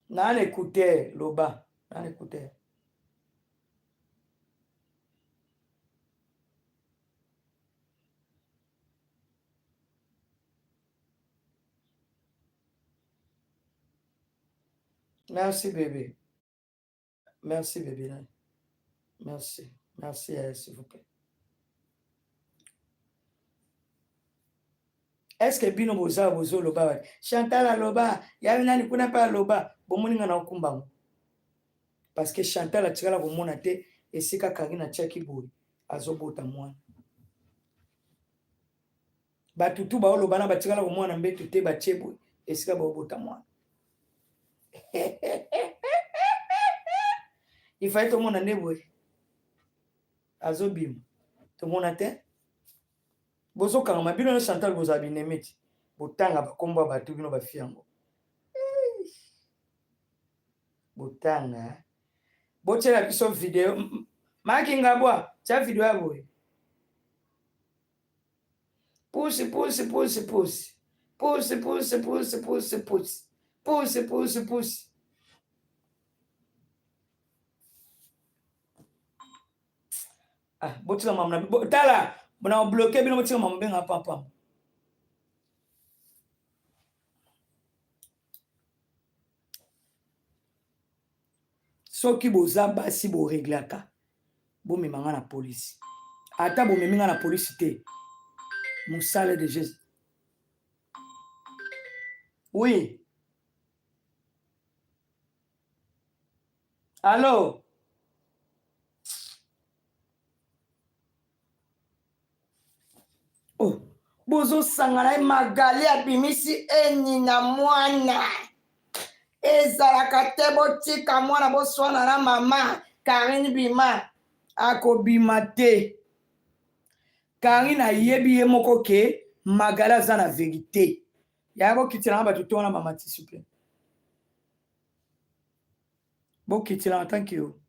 N'a na écouteur loba na écouteur Merci bébé. Merci bébé nani. Merci. Merci yaya eh, s'il vous plaît. Est-ce que bino boza bozo loba wa Chantal aloba ya nani kuna pa aloba bomoni nga na okumba ngo. Parce que Chantal atikala komona te esika kangi na chaki boy azobota mwana. Batutu baoloba na batikala komona mbetu te batie boy esika baobota mwana. ifai tomona nde boye azobima tomona te bozokangama bino na chantal bozala binemiti botanga bakombo ya bato bino bafi yango botanga botyela biso video makingabwa tya video ya boye Pusi pusi pusi pusi. Pusi pusi pusi pusi pusi. Pusi pusi pusi. Ah, botika mamu na bo, tala na obloke bino botika mamu benga papa. soki boza basi bo reglaka bomema nga na polisi ata bomemi nga na polisi te mosala de jesus oui allo oh, bozosangana ye magali abimisi eni na mwana ezalaka te botika mwana boswana na mama karine bima akobima te karine ayebi ye moko ke magali aza na verite yaya bokitilanga bato to wana mama tisuple bokitilanga tanke yo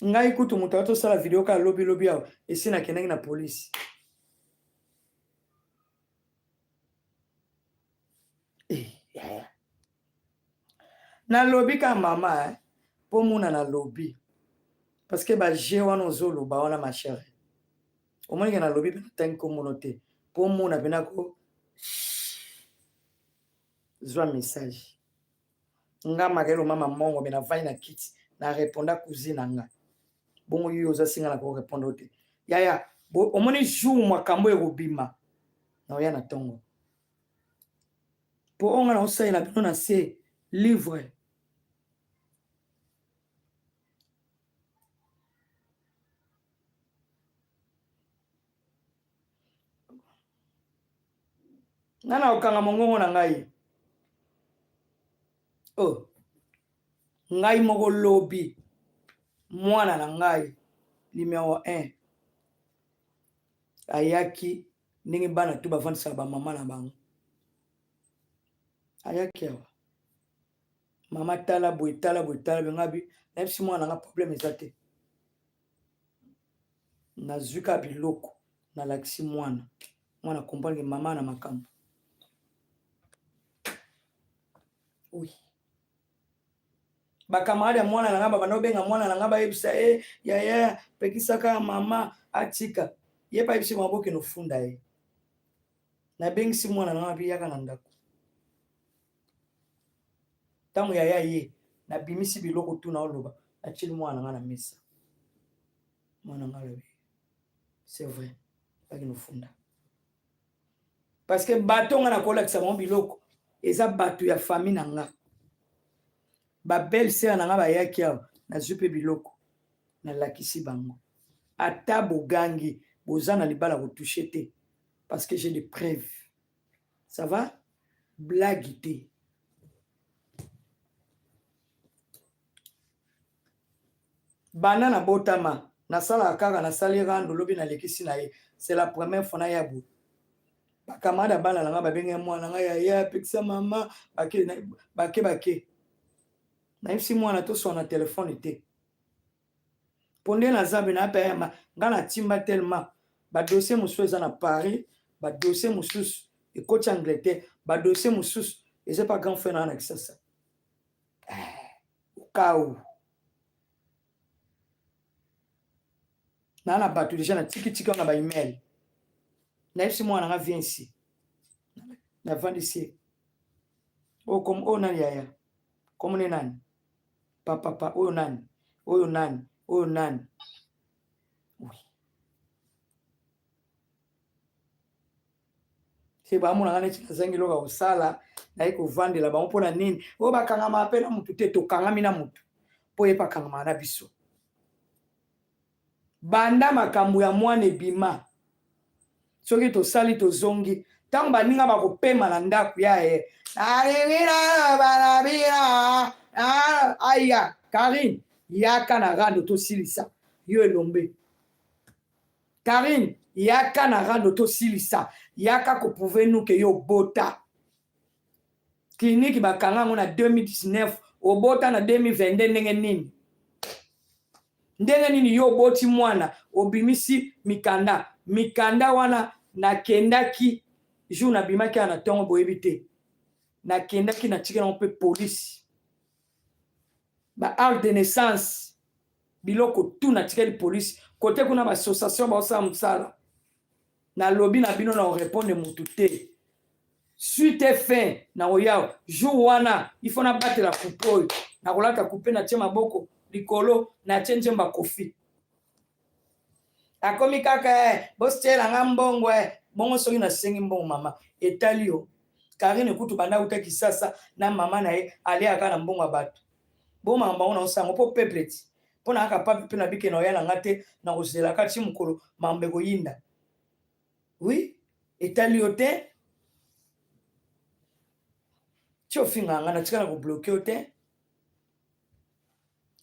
ngai kutu moto awa tosala video kaka lobi lobi awa esi nakendaki na polisi eh, yaya nalobi ka mama eh, mpo mona nalobi parceke baje wana ozoloba wana machere omonike nalobi mpe natangi komono te mpo mona mpe nako zwa message nga makelo mama mongo me navandi na kiti na reponda cousine na nga bongo yo oza singa na korepondre te yaya omoni jour makambo ekobima na oya na ntongo mpo onga na osalela bino na se livre nga na kokanga mongongo na ngai o oh. ngai moko lobi mwana na ngai numero 1 ayaki ndenge bana to bafandisaka bamama na bango ayaki awa mama tala boye tala boye tala boye ngabi nayebisi mwana nga problème eza te nazwi kaka biloko nalakisi mwana mwana comprendre mama na makambo oui bakamarade ya mwana na ngai babanda kobenga mwana na ngai bayebisa ye eh, yaya pekisaka mama atika ye mpe ayebisi maboke nofunda ye nabengisi mwana na ngai mpe yaka na ndako ntango yaya ye nabimisi biloko tu na oloba natyeli mwana na ngai na mesa mwana ngai alobi c'est vrai baki nofunda parce que bato ngai nakolakisa bango biloko eza bato ya famille na ngai babelle sere na ngai bayaki awa nazwi mpe biloko nalakisi bango ata bogangi boza na libala kotushe te parce que j'ai des preuves ça va blague te banda na botama nasalaka kaka nasali rando lobi nalekisi na ye c'est la première fois na ya boye bakamada bana na ngai babenge mwana ngai yaya apekisa mama bake bake nayebisi mwana toswana telefone te pondela nzambe na yaka yama nga na timba tellement ba dossier mosusu eza na paris ba dossier mosusu ekoti angleterre ba dossier mosusu eza pa grand frère na na kisasa eh, okau na na bato deja na tiki tiki na ba email na yebisi mwana nga viensi na vandisi oyo oh, oh, nani yaya komone nani papapa oyo nani oyo nani oyo nani oui. se bamonaka neti nazangi eloko ya kosala naye kovandela bango mpo na nini oyo bakangamaka mpe na motu te tokangami na motu mpo ye bakangamaka na biso Banda makambo ya mwana ebima. Soki tosali tozongi ntango baninga bakopema na ndako ya ye aya karine yaka na rando tosilisa yo elombe karine yaka na rando tosilisa yaka koprouve nuke yo bota Clinique ba kanga yango na 2019 obota na 2022 ndenge nini? Ndenge nini yo oboti mwana obimisi mikanda mikanda wana nakendaki jour nabimaki na tongo boyebi te nakendaki natiki nango mpe polisi ba art de naissance biloko tu natikeli polisi kote kuna ba association baosala mosala nalobi na bino na orepondre mutu te suite fin na koyao jour wana ifo nabatela kupe oyo nakolata kupe natie maboko likolo natie njemba kofi akomi kaka eh, bostiela nga mbongo eh. bongo soki nasengi mbongo mama etali yo karine kutu banda uta kisasa na mama na ye aleyaka na mbongo ya bato bomaka bango na osango mpo peuple ti mpo na kaka papi mpe na bikena oya na nga te na kozela kati mokolo mambo ekoyinda wi etali yo te ti ofingaka nga natikala kobloke yo te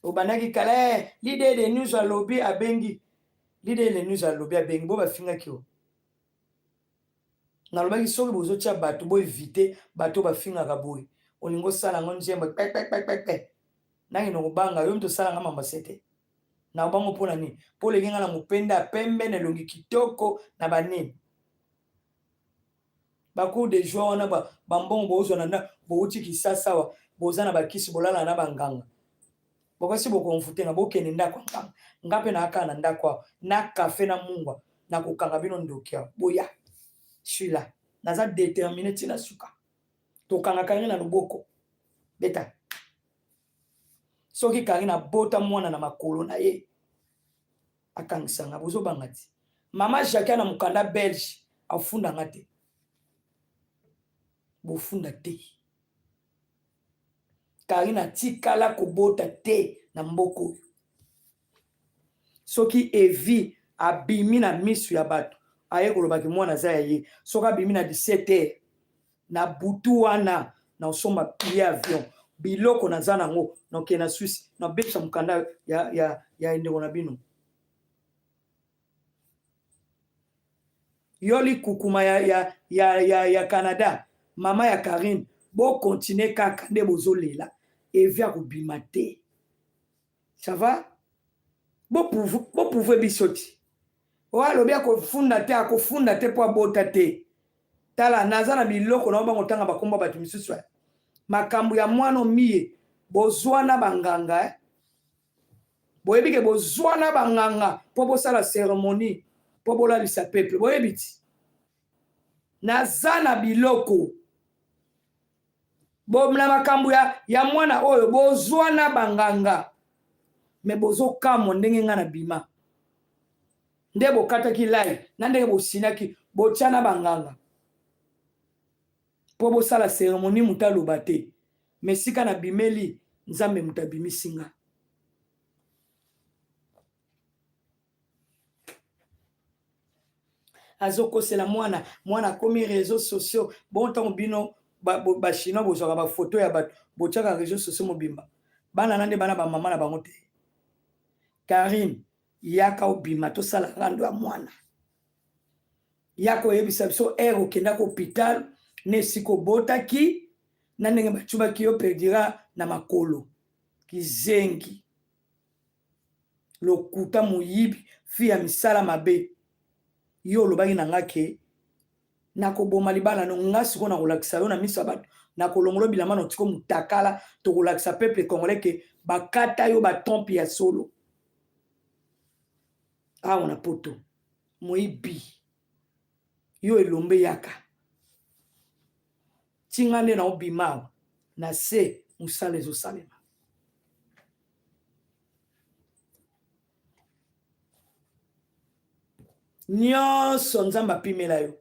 obandaki kala eh, lide de news alobi abengi lide de news alobi abengi bo bafingaki yo nalobaki soki bozotia bato boevite bato bafingaka boye olingi osala yango nzembo pepepepepe nange nakobanga yo mto osala nga mambase te na bango mpo na nini mpo oleki nga na mopenda ya pembe na elongi kitoko na banini bacour de joi wana bambongo boozwa na nda bouti kisasawa boza na bakisi bolala na banganga bobasi bokonfute nga bokende ndako ya ngambo nga mpe naaka na ndako awa na kafe na mungwa nakokanga bino ndoki awa boya suila naza determine ntina suka tokanga karine na loboko beta soki karine abota mwana na makolo na ye akangisanga bozobanga ti mama jacquia na mokanda belge afundanga te bofunda te Carine atikala kobota te na mboka oyo. Soki Evi abimi na misu ya bato aye kolobaki mwana aza ya ye, soki abimi na 17 heures na butu wana na osomba pile avion biloko naza nango nokende na Suisse na bebisa mokanda ya, ya, ya ndeko na bino. yo likukuma ya, ya, ya, ya, ya canada mama ya karine bokontinue kaka nde bozolela evi akobima te ça va boprouve biso ti oyo alobi akofunda te akofunda te mpo abota te tala naza na biloko na obango ntanga bakombo bato misusu makambo ya mwana omiye bozwa na banganga eh? boyebi ke bozwana banganga mpo bosala ceremonie mpo bolalisa peuple boyebi ti naza na biloko bo na makambo ya, ya mwana oyo bozwana banganga me bozokamwa ndenge ngai na bima nde bokataki lai na ndenge bosinaki botya na banganga po bosala ceremonie moto aloba te mais esika na bimeli nzambe moto abimisi nga azokosela mwana mwana akomi réseau sociaux bon ntango bino bachinois bozwaka bafoto ya bato botyaka réseau sociaux mobimba bana na nde bana bamama na bango te karine yaka obima tosala rando ya mwana ya koyebisa biso ere okendaki hopital na esika obotaki na ndenge bacubaki yo perdira na makolo kizengi lokuta moyibi fi ya misala mabe yo olobaki na nga ke nakoboma libala no nga sikoyo nakolakisa yo na miso ya bato nakolongola bilamba no tiko motakala tokolakisa peuple congolais ke bakata yo batrompe ya solo awa na poto moyibi yo elombe yaka tinga nde na obima awa na se mosala ezosalema nyonso nzambe apimela yo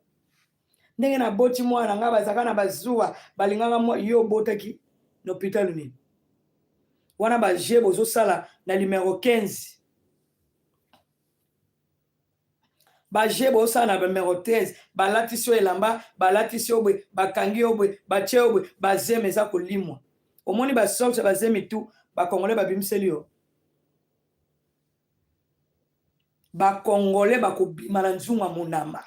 ndenge naboti mwana ngai bazalaka na bazuwa balingaka yo obotaki na hopitalo nini wana baje bozosala na limero 15 baje bosala na bamero 13 balatisi yo elamba balatisi yo boye bakangi yo boye batye yo boye bazeme eza kolimwa omoni basorge bazemi tu bakongole babimiseli yo bakongole bakobima na nzunga monama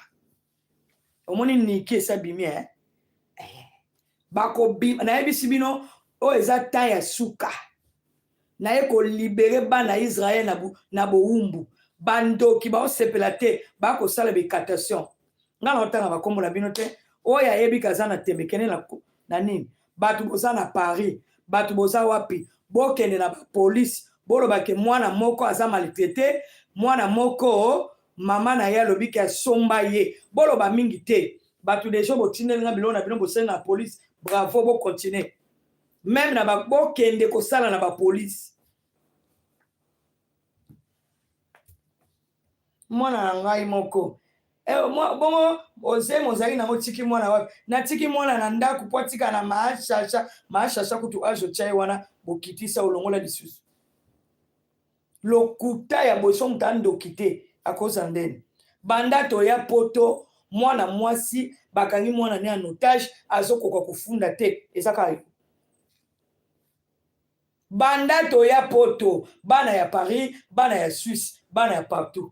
omoni niki esa bimi eh? bakobima nayebisi bino oyo eza temps ya suka naye kolibere bana israel na, na bowumbu bandoki baosepela te bakosala bicatation ngai naotanga bakombo na bino te oyo ayebi kaza na tembe kende na, na nini bato boza na paris bato boza wapi bokende na bapolisi bolobake mwana moko aza maltraite mwana moko mama na ye alobi ke asomba ye boloba mingi te batu deja botindeli nga biloko na bino bosenga police bravo bo continue meme na bokende kosala na bapolice mwana na ngai moko eh, bongo ozemi ozali nango tiki mwana wapi natiki mwana na ndako mpo atika na maashasha maashasha kutu azo tya ye wana bokitisa olongola lisusu lokuta ya boye so moto andoki te akozala ndeni banda toya poto mwana mwasi bakangi mwana ne en otage azokoka kofunda te eza kaka banda toya poto bana ya paris bana ya suisse bana ya partout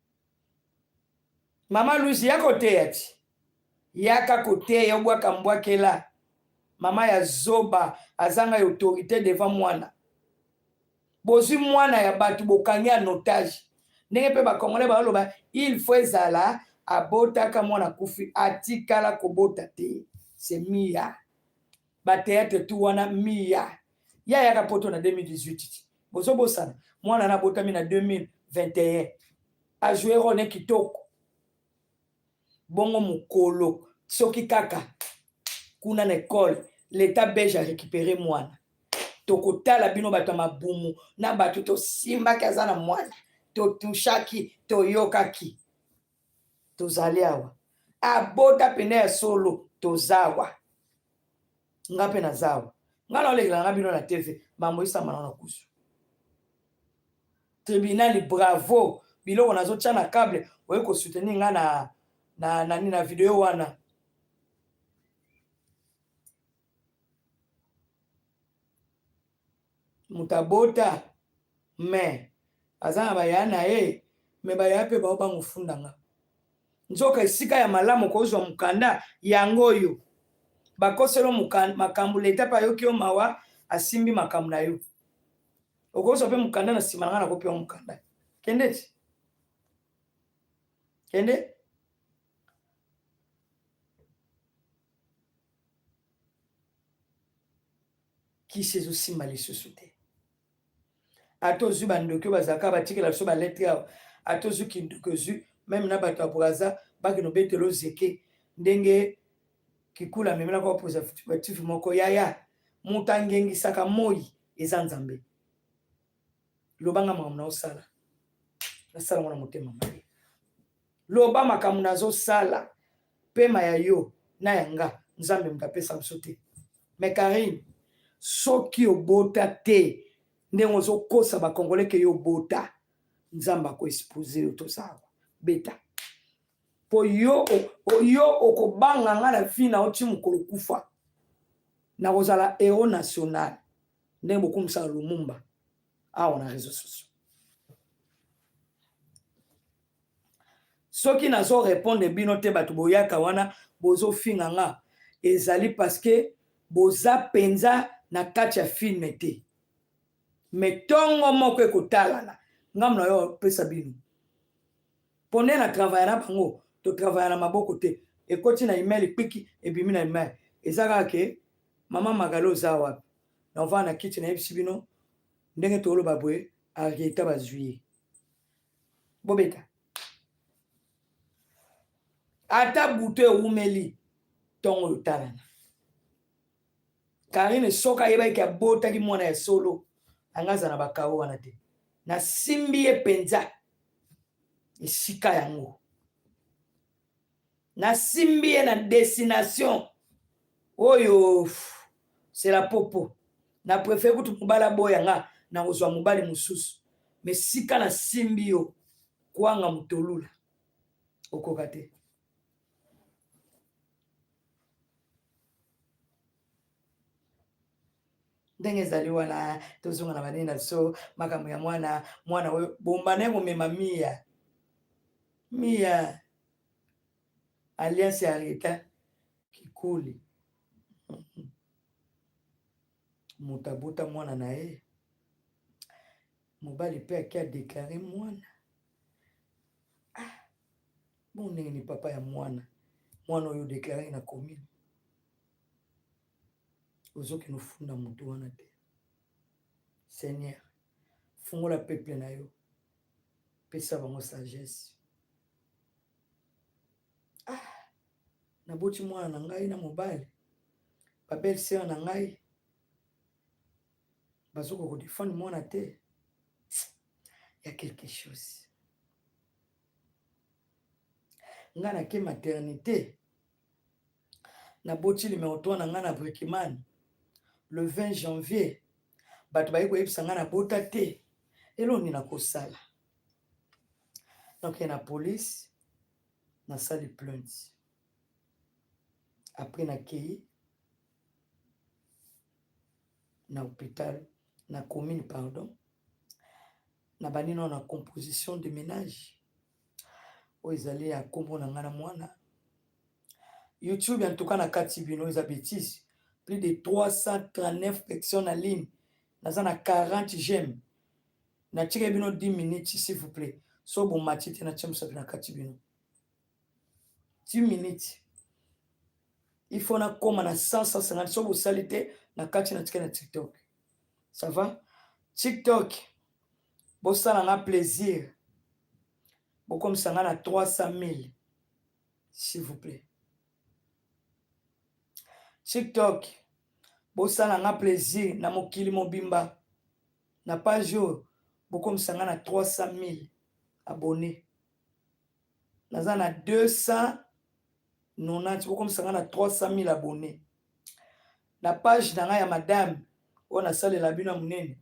Mama Luzi ya koteya ti. Yaka koteya obwaka mbwakela. Mama ya zoba azanga ya autorité devant mwana. Bozwi mwana ya bato bokangi en otage. Ndenge mpe ba Congolais baloba il faut ezala abotaka mwana kufi atikala kobota te. C'est Mia. ba théâtre tout wana miya ye ayaka poto na 2018 bozobosana mwana na abotami na 2021 ajoue rone kitoko bongo mokolo soki kaka kuna na ekole leta belge arécupere mwana tokotala bino bato ya mabumu na bato tosimbaki aza na mwana totushaki toyokaki tozali awa abota mpena ya solo toza awa nga mpe naza awa nga naolekela nga bino na tv mambo esambana na kusu tribunali bravo biloko nazotya na cable oye kosoutenir nga na, na, na, na, na video wana moto abota me aza na baya na ye me baya mpe bao bango funda nga nzoka esika ya malamu kozwa mokanda yango oyo bakoselo makambo leta mpe ayoki yo mawa asimbi makambo na yo okozwa mpe mokanda na nsima na ngai nakopewa mokanda kende ti kende kisi ezosimba lisusu te ata ozwi bandoki oyo bazalaka batikela biso baletre awa ata ozwi kindoki ozwi meme na bato ya braza bakino betela ozeke ndenge kikula amemelaka bapositif moko yaya moto angengisaka moi eza nzambe lobanga makambo na osala nasalango na motema mabe Loba makambo nazo sala pema ya yo na ya nga nzambe moto apesa biso te mais Carine soki obota te ndenge ozokosa bakongole ke yo obota nzambe akoexpose yo tozawa beta mpo yo yo okobanga ngai na vi na oti mokolo kufa nakozala hero national ndenge bokumisaka lumumba awa na réseau sociaux soki nazo repondre bino te bato boyaka wana bozofinga nga ezali parceke boza mpenza na kati ya filme te me ntongo moko ekotalana ngambo na yo opesa bino mpo nde na travaya na bango totravaya na maboko te ekoti na email ekpiki ebimi na email eza kaka ke mama magala oza wapi na ovaa na kiti nayebisi bino ndenge toloba boye arieta bazwi ye bobeta ata butu ewumeli ntongo oyo talana karine soki ayebaki ke abotaki mwana ya solo anga aza na bakao wana te nasimbi ye mpenza esika yango nasimbi ye na destination oyo sela popo na prefere kutu mobali aboya nga na kozwa mobali mosusu me sika nasimbi yo kwanga motolula okoka te ndenge ezali wana tozonga na banene na biso makambo ya mwana mwana oyo bomba naye komema miya Mia alliance ya reta kikuli moto abota mwana na ye mobali mpe ake adeklare mwana ah, bon ndenge ni papa ya mwana mwana oyo odeklare na commune ozokende ofunda moto wana te seigneur fungola peple na yo pesa bango sagesse ah naboti mwana na ngai na mobali babelle sœur na ngai bazokoka kodefendre mwana te ya quelque chose ngai nake maternité naboti numero 3 na ngai na brikimane le 20 janvier bato baye koyebisa ngai nabota te eloni nakosala nakokende na polise nasali plainte apres nakei na hôpital na commune pardon na bandi nao na composition de ménage oyo ezali ya nkombo na ngai na mwana youtube en tout cas nakati bino eza betise plus de 339 personnes na ligne naza na 40 j'aime natika bino 10 minutes s'il vous plaît so bomati te natya mosapi na kati bino 10 minutes il faut nakoma na 150 so bosali te na kati natika na tiktok ça va tiktok Bosala nga plaisir bokomisa nga na 300000 s'il vous plaît. TikTok bosala nga plaisir na mokili mobimba na page oyo bokomisa nga na 300000 abonnes. Naza na 200 nonati bokomisa nga na 300000 abonne na page na nga ya madame oyo nasalela bino ya monene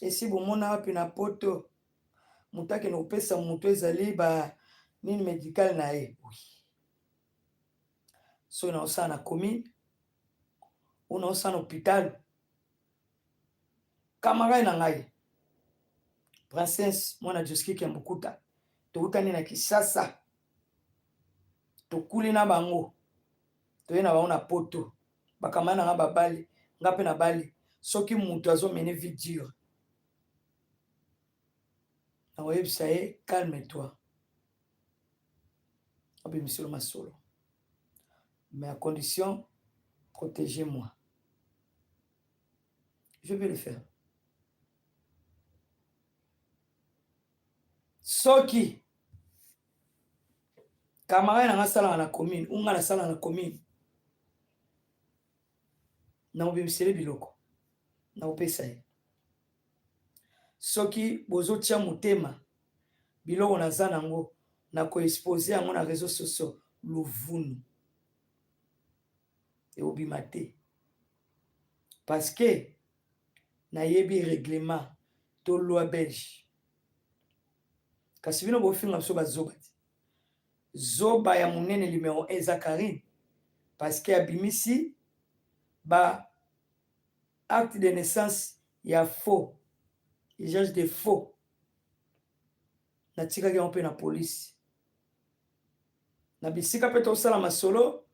esi bomona wapi na poto moto akende kopesa moto ezali ba nini medicale na ye soki na osala na commune una osala na hopitalo kamarade na ngai princesse mwana joskiki ya mokuta tokutani na kisasa tokuli na bango toye na bango na poto bakama na nga babali nga mpe nabali soki moto azomene vie dure nakoyebisa ye calme toi abimiselo masolo mais à condition protégez moi je vais le faire soki camarade na nga asalaka na commune ou nga nasalaka na commune nakobimisele biloko nakopesa ye soki bozotya motema biloko naza nango nakoexpose yango na réseau socio luvunu ekobima te parce que nayebi règlement to loi belge kasi bino bofinga biso bazoba te zoba ya monene numero 1 eza karine parce que abimisi ba acte de naissance ya faux usage de faux natikaki yango mpe na polisi na bisika mpe tosala masolo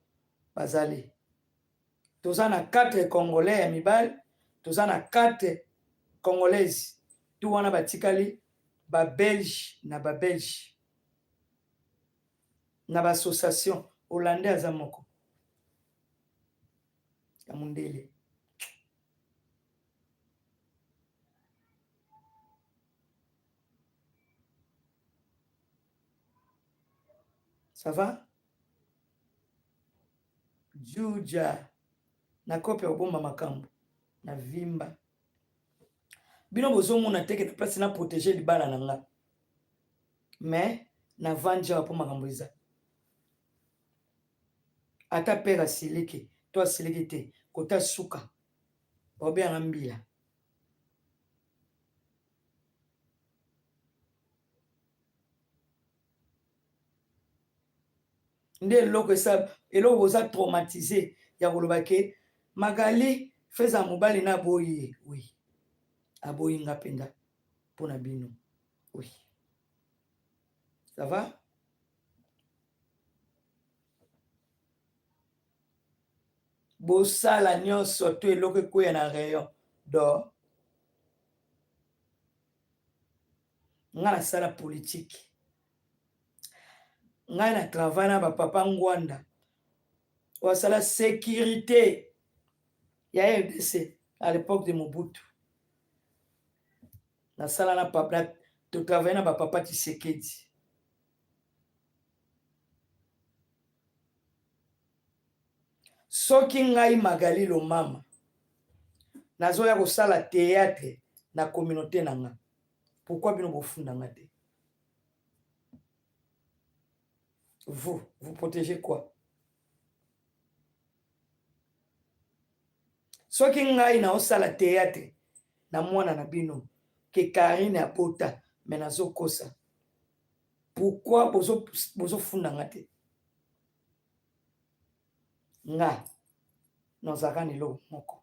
bazali toza na 4 congolais ya mibali toza na 4 congolaise tu wana batikali babelge na babelge na baassociation hollandais aza moko ya mondele Ça va Juja na kope obomba makambo na vimba bino bozomona teke na place na protege libala na nga mais na vandi awa mpo makambo eza ata pere asiliki to asiliki te kota suka baobengaka mbila nde eloko esa eloko boza traumatise ya koloba ke magali feza mobali na aboyi ye oui aboyi nga mpenza mpo na bino oui ça va bosala nyonso to eloko ekweya na rayon dor nga nasala politike ngai na travail na bapapa ngwanda wasala sécurité ya rdc à l'époque de mobutu nasala na papa totravaille na bapapa tisekedi Soki ngai Magali Lomama nazoya kosala theatre na communaute na nga, pourquoi bino bofunda nga te? Vous, vous protégez quoi? Soki ngai naosala theatre na mwana na bino ke Karine abota me nazokosa, pourquoi bozofunda nga te? nga nazalaka na eloko moko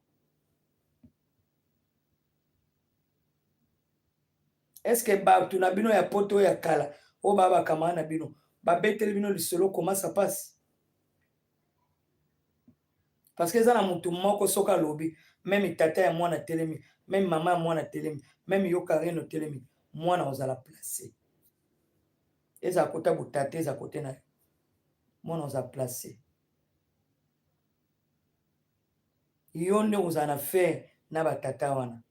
eske bato na bino ya poto ya kala oyo baa bakamana na bino babeteli bino lisolo koma sa pasi parce que eza na motu moko soki alobi meme tata ya mwana telemi meme mama ya mwana telemi meme yo karine otelemi mwana ozala place eza kota botata eza kote na yo mwana oza place yo nde ozala na fere na batata wana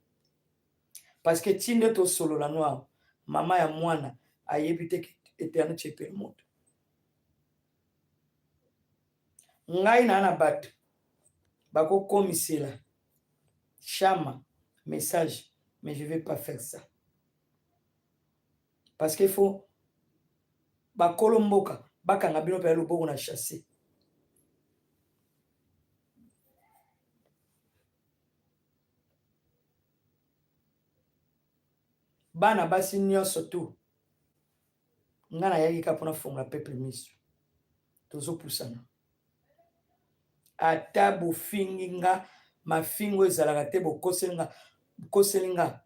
parce que ti nde tosolola no awa mama ya mwana ayebi te eterne chepele moto ngai naa na bato bakokomisela shama message mais je vais pas faire ça parce que faut ba kolo mboka bakanga bino pena loboko na chasse bana basi nyonso tu nga nayaki ka mpona fongola peuple miso tozopusana ata bofingi nga mafingo ezalaka te bokoseli nga bokoseli nga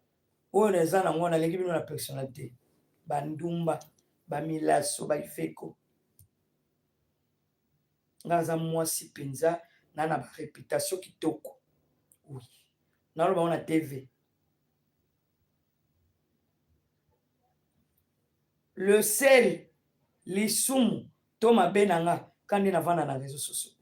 oyo naza na ngo naleki bino na personnalité bandumba bamilaso baifeko nga naza mwasi mpenza na na bareputation kitoko oui naloba ngo na tv le sel lisumu to mabe na nga ka nde navanda na réseau sociaux